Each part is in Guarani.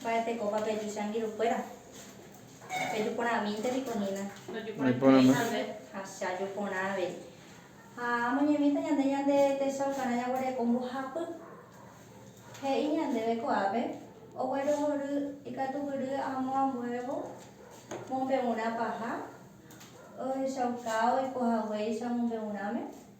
Mba'etekópa peju che angirũkuéra? Peju porãmínte piko hína. Ndojuporãitéihague. Ha che aju porã avei. Ha amoñemíta ñande ñande techaukarã jaguereko mbohapy. He'i ñandéve ko'ápe oguerohory ikatugury amo ambuévo mombe'urã paha ohechauka oikohaguéicha mombe'urãme.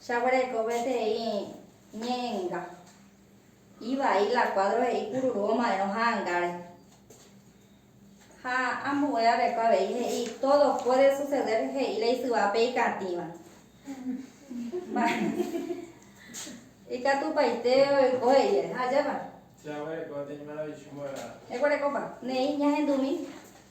Jaguereko peteĩ ñe'ẽnga. Ivai la kuádro he'i kururu omaérõ ha'angáre. Ha ambue aveko avei he'i tódo puéde suseder he'i la isyvápe ikatĩva. Ikatupaite oiko he'íre. Ha ajépa. Jaguereko tei maravichu mbo'ehára. Eguerekópa. Ne'ĩ ñahendumi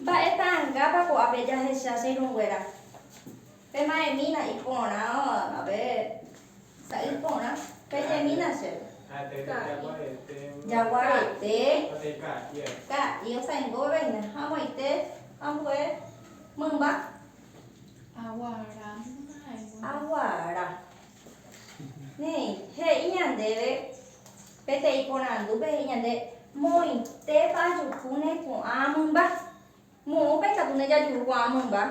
Mba'e ta'angápa ko'ápe jahecha che irũnguéra? Pe ma'ẽmína iporã pe sa'i porã, peñemína chéve. Jaguarete, ka'i osãingo veve hína, amoite ambue mymba. Aguara. Néi, he'i ñandéve peteĩ porandúpe, he'i ñande, moĩtépa ajukúne ko'ã mymba? Moõpa ikatu ndejajuru ko'ã mymba?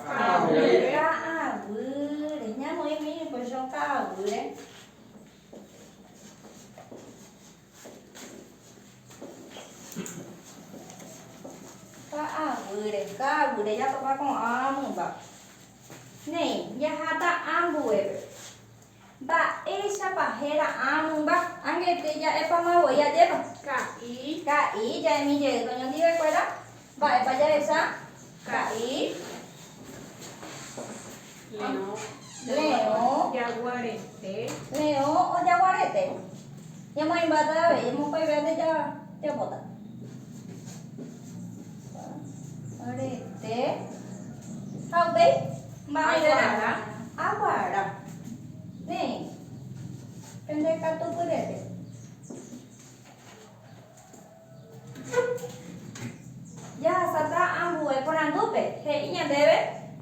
Ka'aguýre. Ka'aguýre. Ñamoĩmi niko choka'aguýre. Ka'aguýre, ka'aguýre jatopa ko'ã mymba. Néi, jaháta ambuépe. Mba'éichapa héra ã mymba? Ánge etei ja'épama voi ajépa. Ka'i. Ka'i, ja'emi jey toñondivekuéra. Mba'épa jahecha? Ka'i, leõ, jaguarete. Leõ o jaguarete. Ñamoĩmbáta avei, emopaivéva nde japóta. Jaguarete. Ha upéi? Aguara. Aguara. Néi. Pende katu pyrépe. Jahasáta ambue porandúpe, he'i ñandéve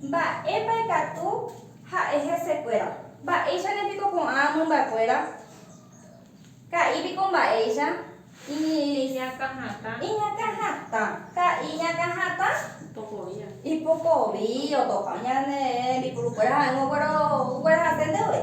mba'épa ikatu ha'e hesekuéra. Mba'éichane piko ko'ã mymbakuéra? Ka'i piko mba'éicha? Iñakã hatã. Ka'i iñakã hatã? Ipokovi otopa ñane rembipurukuéra ha'ỹva okuera hasénte voi.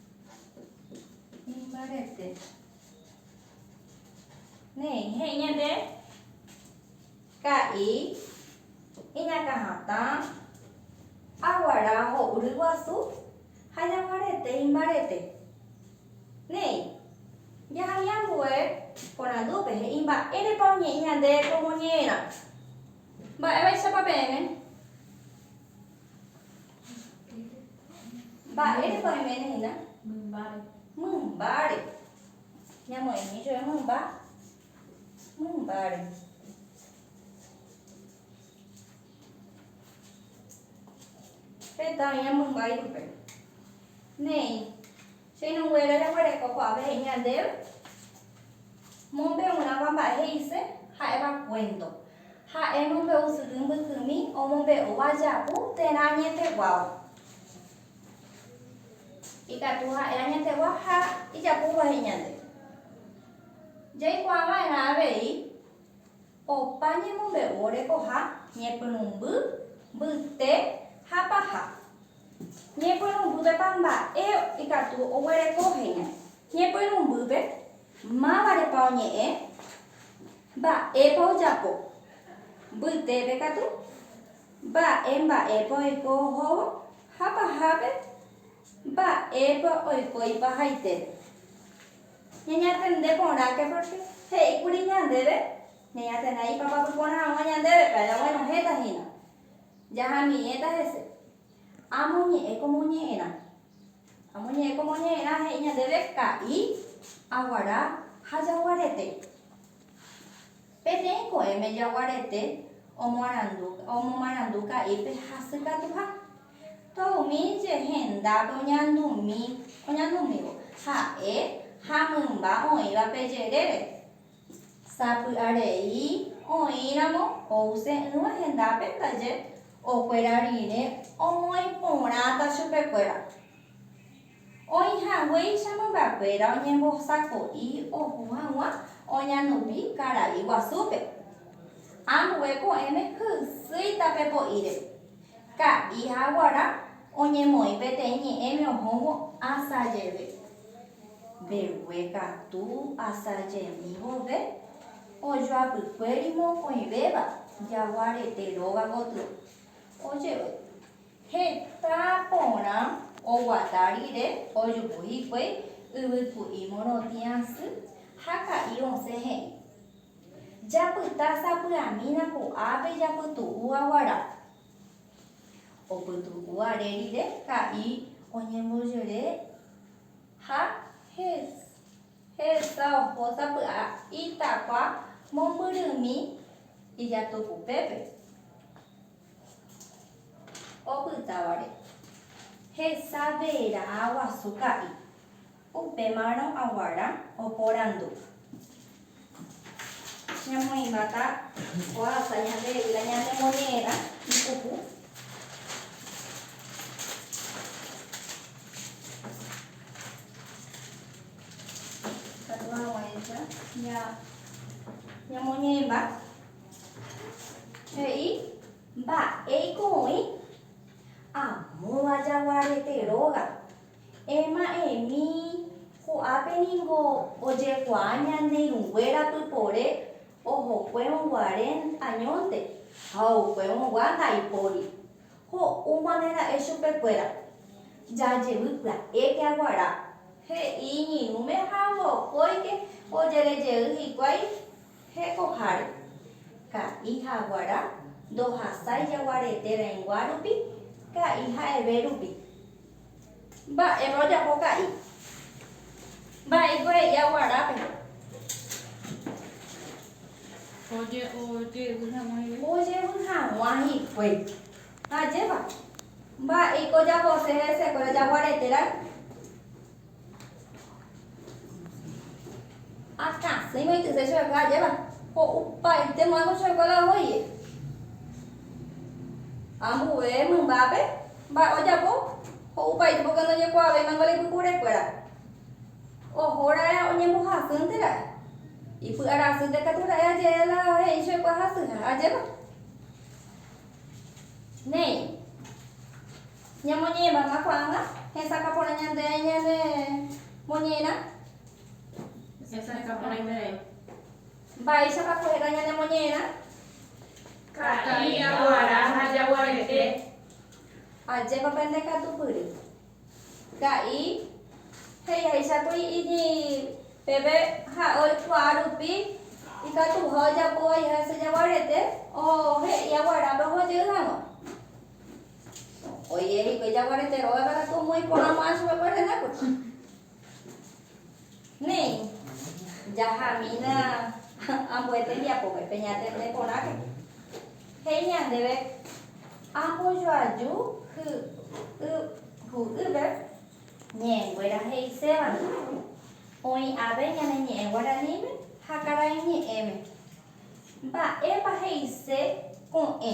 Imbarete. Néi, he'i ñande ka'i iñakãhatã aguara ho'u ryguasu ha jaguarete imbarete. Néi, jahami ambue porandúpe, he'i mba'érepa oñe'ẽ ñande komo ñe'ẽrã. Mba'évaichapa peẽme? Mba'érepa oiméne hína? Mymbáre. Mymbáre. Ñamoĩmi jove mymba. Mymbáre. Heta oĩva mymba ipype. Néi. Cheirũnguéra jaguereko ko'ápe he'i ñandéve mombe'urãva mba'e he'ise ha'éva kuénto. Ha'e mombe'u syry mbykymi omombe'úva japu térã añeteguáva. Ikatu ha'e añetegua ha ijapúva he'i ñande. Jaikuaava'erã avei opa ñemombe'u orekoha ñepyrũmby, mbyte ha paha. Ñepyrũmbýpepa mba'e ikatu oguereko heñói. Ñepyrũmbýpe, mávarepa oñe'ẽ, mba'épa ojapo, mbytépe katu, mba'e mba'épa oiko ohóvo ha pahápe mba'épa oiko ipahaitépe. Ñañatende porãke pórke he'íkuri ñandéve ñañatenda ipapapy porãrõgua ñandéve, péro aguenohẽta hína. Jahamiẽta hese. Amoñe'ẽ ko moñe'ẽrã. Amoñe'ẽ ko moñe'ẽrã he'i ñandéve ka'i, aguara ha jaguarete. Peteĩ ko'ẽme jaguarete omoarandu, omomarandu ka'ípe hasykatuha. Tóa umi je hendápe oñandumi, oñandumívo, ha'e ha mymba oĩvape jerére. Sapy'arei oĩramo ouse'ỹva hendápe ndaje okuera rire omoĩ porãta chupekuéra. Oĩ haguéicha mymbakuéra oñembosako'i oho hag̃ua oñandupi karai guasúpe. Ambue ko'ẽme hysýita pe po'íre. Ka'i ha guarã oñemoĩ peteĩ ñe'ẽme ohóvo asa jeve. Mbegue katu asa jemi vove ojoapykuéri mokõivéva jaguarete róga gotyo. Ojevy heta porã oguata rire ojuhu hikuái yvyku'i morotĩ asy ha ka'i osẽ he'i. Japyta sapy'amína ko'ápe japytu'u aguara. Opytu'u are rire ha'i oñemboyere ha hesa oho sapy'a itakua mombyrymi ijatukupépe opytávare. Hesa verã guasu ha'i. Upémarõ aguara oporandu. Ñamoĩmbáta oasa ñande yvyra ñanemoñe'ẽrã ipuku. Katu hag̃uáicha ñamoñe'ẽmba. He'i, Mba'éiko oĩ amóva jaguarete róga. Ema'ẽmi, ko'ápe ningo ojekuaa ñane irũnguéra pypore ohokuévo guare añónte ha oukuévo gua ndaipóri. Ho'úmane ra'e chupekuéra, jajevy pya'éke aguara. He'i iñirũme ha mokóike ojerejey hikuái hekoháre. Ka'i ha aguara ndohasái jaguarete rãinguárupi, ka'i ha'eve rupi. Mba'épa ojapo ka'i. Mba'éiko he'i aguarápe. Ojevy hag̃ua hikuái. Ojevy hag̃ua hikuái. Ha ajépa. Mba'éiko ojapose hesekuéra jaguarete ra'y. Akãsy iñoityse chupekuéra ajépa, ho'upaite mo'ãiko chupekuéra ohoye. Ambue mymbápe mba'e ojapo, ho'upaite pórke ndojekuaavéimako la ipypurekuéra. Oho ra'e oñembohasýnte ra'e, ipy'ara asýpe katu ra'e aje'e la he'i chupekuéra hasýva ajépa. Néi. Ñamoñe'ẽva'erã ko'ág̃a hesakã porã ñande ha ñane moñe'ẽrã. Hesakã porã ñande. Mba'éichapa ko'ẽrã ñane moñe'ẽrã? Ka'i, aguara ha jaguarete. Ajépa pende katupyry. Ka'i, he'iháichakuri iji peve ha'e oikuaa rupi ikatuha ojapóva hese jaguarete ohe'i aguarápe ohojey hag̃ua. Oiméne hikuái jaguarete róga térã ko omoĩ porã guarã chupekuéra hendápe. Néi, jahamína ambue tembiapópe, peñatende porãke. He'i ñandéve, Ambojoaju hy'ỹipe ñe'ẽnguéra he'isévare, oĩ ave ñane ñe'ẽ guaraníme ha karaiñe'ẽme. Mba'épa he'ise ko'ẽ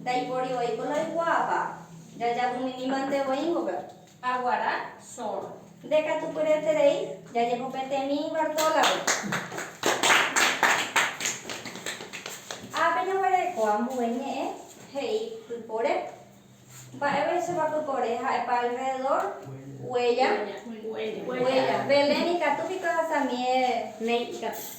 Ndaipóri voi ko ndoikuaápa. Jajapyminimante voi ingope. Aguara sor. Nde katu pyreterei jajepopetemí Bartólape. Ápe jaguereko ambue ñe'ẽ he'i pypore Mba'éichapa pypore ha'epa alrededor? Huella. Huella. Belén ikatu piko ahasamie néi ikatu.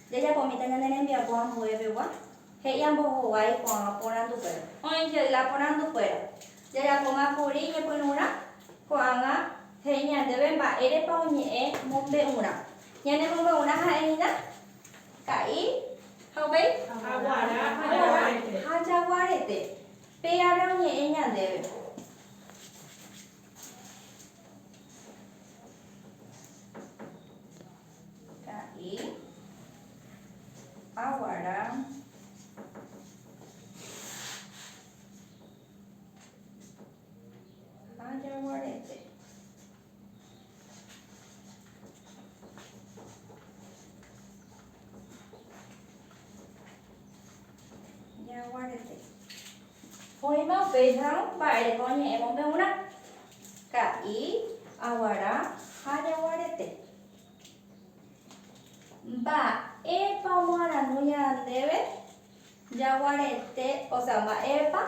Jajapomíta ñane rembiapo ambue pegua, he'i ambohovái ko'ãva porandukuéra. Oĩ jey la porandukuéra, jajapóma kuri ñepyrũrã? Ko'ãva he'i ñandéve mba'érepa oñe'ẽ mombe'urã. Ñane mombe'urã ha'e hína, ka'i ha upéi? Aguará ha jaguarete. Pe ápe oñe'ẽ ñandéve. Ka'i, aguara, ha jaguarete. Jaguarete. Oĩma upéicha mba'ereko oñe'ẽ mombe'urã. Ka'i, aguara ha jaguarete. Mba'épa omoarandu ñandéve jaguarete, ósea, mba'épa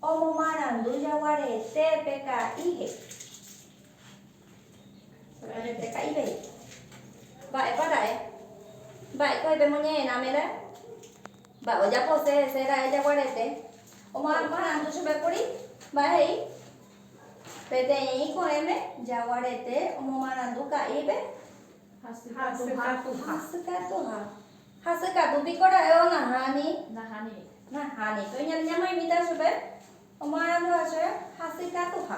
omomarandu jaguarete pe ka'i he'i. Solamente ka'i pe he'i. Mba'épa ra'e? Mba'éiko he'i pe moñe'ẽrãme ra'e? Mba'e ojapose hese ra'e jaguarete? Omomarandu chupe kuri, mba'e he'i? Peteĩ ko'ẽme jaguarete omomarandu ka'ípe hasykatuha. Hasykatu piko ra'évo nahani? Nahani. Pe oñande ñamoinvita chupe omoaranduha che hasykatuha.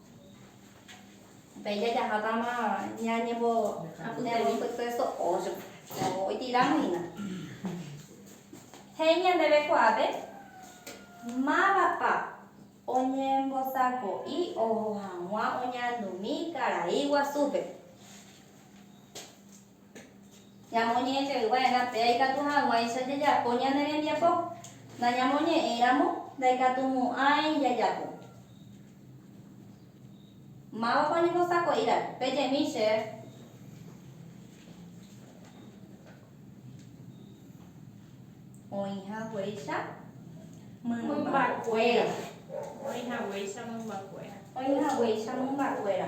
Péicha jahátama ñañembopyte so'o oitĩrahína. He'i ñandéve kuaápe mávapa oñembosako'i oho hag̃ua oñandumi karai guasúpe. Ñamoñe'ẽtevy va'erã péa ikatu hag̃uáicha jajapo ñane rembiapo. Nañamoñe'ẽiramo, ndaikatumo'ãi jajapo. Mávapa oñembosako'íva? Pejemi che. Oĩ haguéicha mymbakuéra. Oĩ haguéicha mymbakuéra. Oĩ haguéicha mymbakuéra.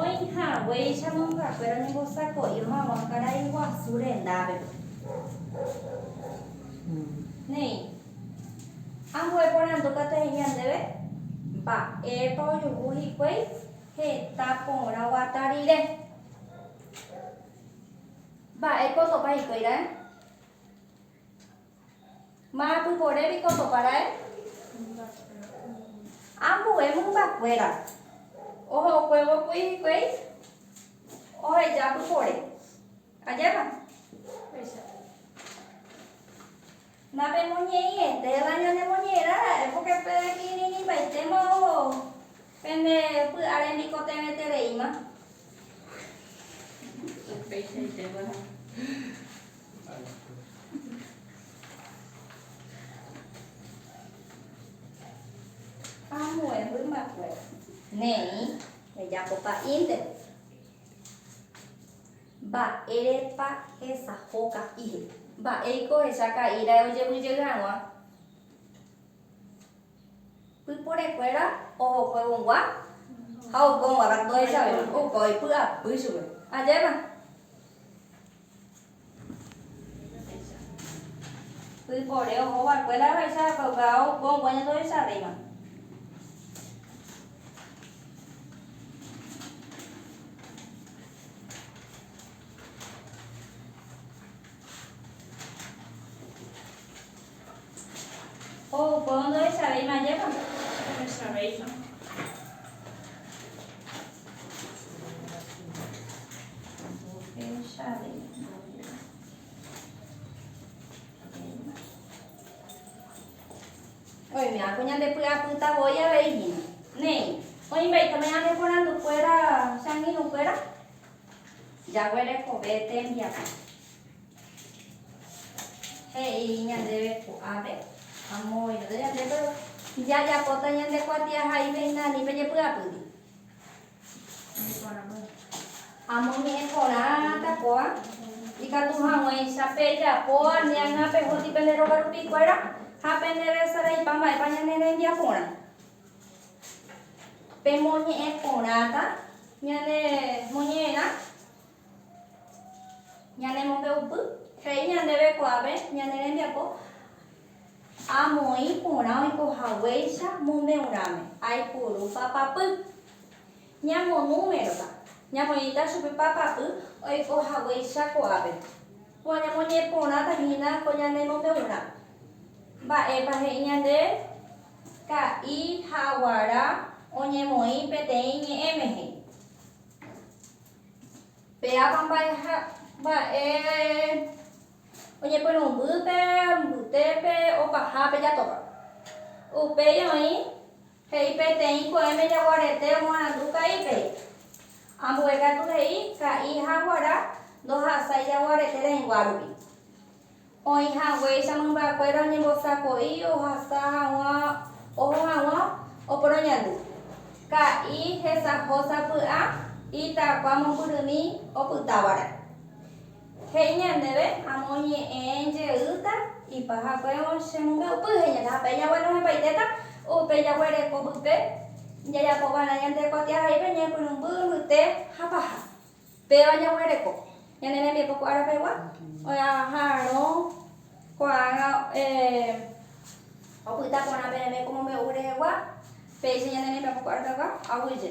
Oĩ haguéicha mongakuéra oñembosako'i omagua karai guasu rendápe. Néi, ambue porandu katu he'i ñandéve, Mba'épa ojuhu hikuái heta porã guata rire? Mba'épa osopa hikuái ra'e? Ma'apypore piko topara'e? Ambue mymbakuéra ohokuévo kuri hikuái oheja pypore. Ajépa? Péicha. Napemoñe'ẽiete la ñanemoñe'ẽrara'e pórke pe kirirĩvaitéma oho. Pende py'are nikotevẽtereíma. Upeichaite guarã. Ambue mymbakuéra. Néi, rejapo pa'ínte. Mba'érepa hesaho ka'i. Mba'éiko ohecha ka'i raẽ ojevy jey hag̃ua. Pyporekuéra oho juegongua ha oukóngua katu ohechavéva, opa oipy'apy chupe. Ajépa? Pypore oho vakuéra ohaicha ha opa oukóngua ñande ohechavéva. Ko upéva ndohechavéima ajépa? Ndohechavéima. Oimérõ ko ñande py'apýta voi avei hína. Néi, oĩmbaiteme ñane porandu kuéra, che angirũ kuéra? Jaguerekove tembiapo. He'i ñandéve ko'ápe, Amo oĩrõta ñande péro, jajapóta ñande kuatiahaípe hína ani pejepy'apýti. Amo oñe'ẽ porã ta kóva, ikatu hag̃uáicha pejapo añágã pehóti pende róga rupi kuéra ha pende resaraipa mba'épa ñane rembiaporã. Pemoñe'ẽ porãta ñane moñe'ẽrã. Ñane mombe'upy he'i ñandéve kuaápe ñane rembiapo amoĩ porã oiko haguéicha mombe'urãme, aipuru papapy. Ñamo númerota, ñamoĩta chupe papapy oiko haguéicha kuaápe. Kóva ñamoñeporãta hína ko ñane mombe'urã. Mba'épa he'i ñandéve? Ka'i ha guara oñemoĩ peteĩ ñe'ẽme he'i. Pe ava mba'e oñepyrũmby pe mbytépe opaha pe jatópa. Upéi oĩ, he'i peteĩ ko'ẽme jaguarete omoarandu ka'ípe. Ambue katu he'i ka'i ha guara ndohasái jaguarete reĩgua rupi. Oĩ haguéicha mymbakuéra oñembosako'i ohasa hag̃ua oho hag̃ua oporoñandu. Ka'i hesaho sapy'a itakua mombyrymi opytávare. He'i ñandéve amoñe'ẽ jeýta ipahakuévo che mombe'upy, heñóta ha pe jagua nohẽpaitéta upe jaguereko pype jajapo va'erã ñande kuatiahaípe ñepyrũmby mbyte ha paha. Péva jaguereko ñane rembiapo ko ára pegua, oĩ'aha rõ ko'ágã opyta porã peẽme ko mombe'u rehegua, péicha ñane rembiapo ko ára pegua, aguyje.